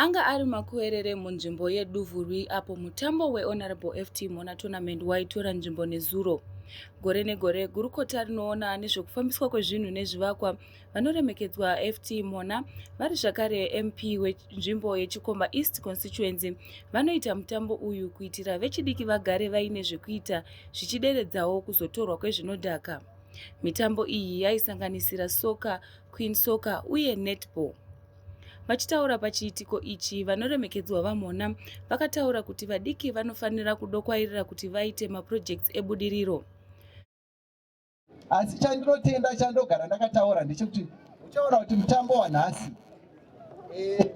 Anga ari makuerere munzvimbo yeDuvurwi apo mutambo weHonorable FT Mona Tournament waitora nzvimbo nezuro. Gore negore, gurukota rinoona nezvekufambiswa kwezvinhu nezvivakwa vanoremekedzwa ft mona vari zvakare mp wenzvimbo yechikomba east constituency vanoita mutambo uyu kuitira vechidiki vagare vaine zvekuita zvichideredzawo kuzotorwa kwezvinodhaka mitambo iyi yaisanganisira soka queen soka uye netball vachitaura pachiitiko ichi vanoremekedzwa vamhona vakataura kuti vadiki vanofanira kudokwairira kuti vaite maprojects ebudiriro asi chandinotenda chandogara ndakataura ndechekuti uchaona kuti mutambo wanhasi eh,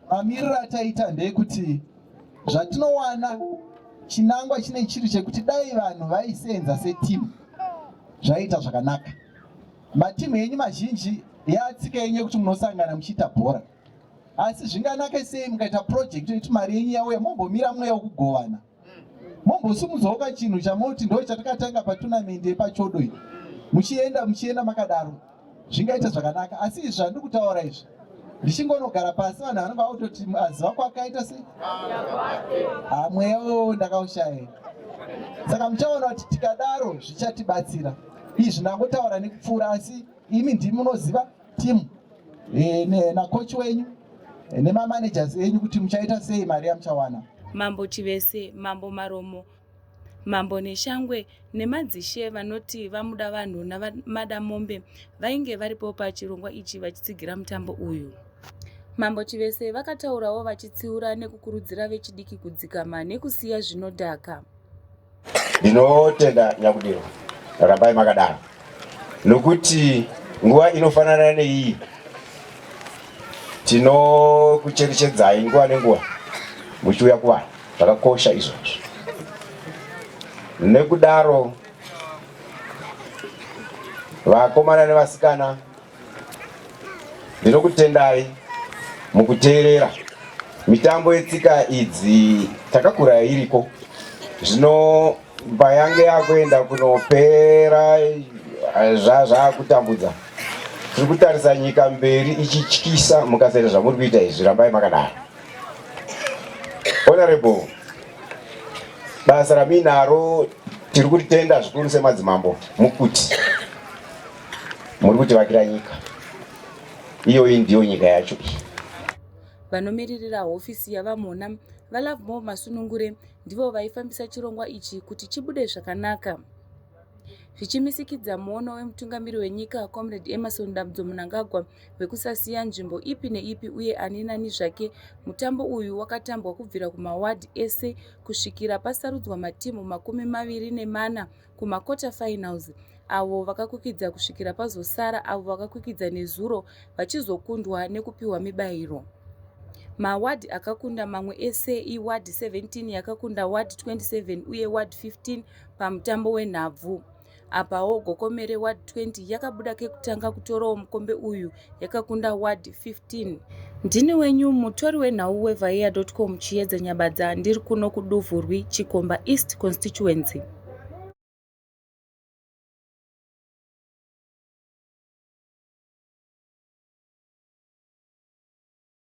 mamiriro ataita ndeyekuti zvatinowana chinangwa chine chiri chekuti dai vanhu vaisenza setimu zvaiita zvakanaka matimu enyu mazhinji yatsika yenyu yekuti munosangana muchiita bhora asi zvinganake sei mukaita project yekuti mari yenyu yauya mombomira mweya wekugovana mombosimudzawo kachinhu chamoti ndo chatakatanga patunamindi yepachodo iyi muchienda muchienda makadaro zvingaita zvakanaka asi izvi zvandiri kutaura izvi ndichingonogara pasi vanhu vanenge vakutoti aziva kwakaita se ha mweya wewo ndakaushaya saka muchaona kuti tikadaro zvichatibatsira izvi ndangotaura nekupfuura asi imi ndimi munoziva team e, ne, na coach wenyu e, nema managers enyu kuti muchaita sei mari yamuchawana mambo chivese mambo maromo mambo neshangwe nemadzishe vanoti vamuda vanhu namada mombe vainge varipo pachirongwa ichi vachitsigira mutambo uyu mambo chivese vakataurawo vachitsiura nekukurudzira vechidiki kudzikama nekusiya zvinodhaka Ndinotenda Nyakudiro, rambai makadaro nokuti nguva inofanana neiyi tinokucherechedzai nguva nenguva muchiuya kuvanhu zvakakosha izvozvo nekudaro vakomana nevasikana Ndinokutendai mukuteerera mitambo yetsika idzi takakura iriko zvino payange yakuenda kunopera zvazvakutambudza tiri kutarisa nyika mberi ichityisa mukasaita zvamuri kuita izvi rambai makadaro honorable basa raminaro tiri kutenda zvikuru semadzimambo mukuti Muri kutivakira nyika iyoyi ndiyo nyika yacho iyi. Vanomiririra hofisi yaVaMhona, VaLovemore Masunungure, ndivo vaifambisa chirongwa ichi kuti chibude zvakanaka zvichimisikidza muono wemutungamiri wenyika comrade emerson damdzo munangagwa wekusasiya nzvimbo ipi neipi uye ani nani zvake mutambo uyu wakatambwa kubvira kumawadhi ese kusvikira pasarudzwa matimu makumi maviri nemana kumaquarter finals avo vakakwikidza kusvikira pazosara avo vakakwikidza nezuro vachizokundwa nekupiwa mibairo mawadhi akakunda mamwe ese iwadhi 17 yakakunda wadhi 27 uye wadhi 15 pamutambo wenhabvu apawo gokomere wadhi 20 yakabuda kekutanga kutorawo mukombe uyu yakakunda ward 15 ndini wenyu mutori wenhau wevaiya.com chiyedza nyabadza ndiri kuno kuduvhurwi chikomba east constituency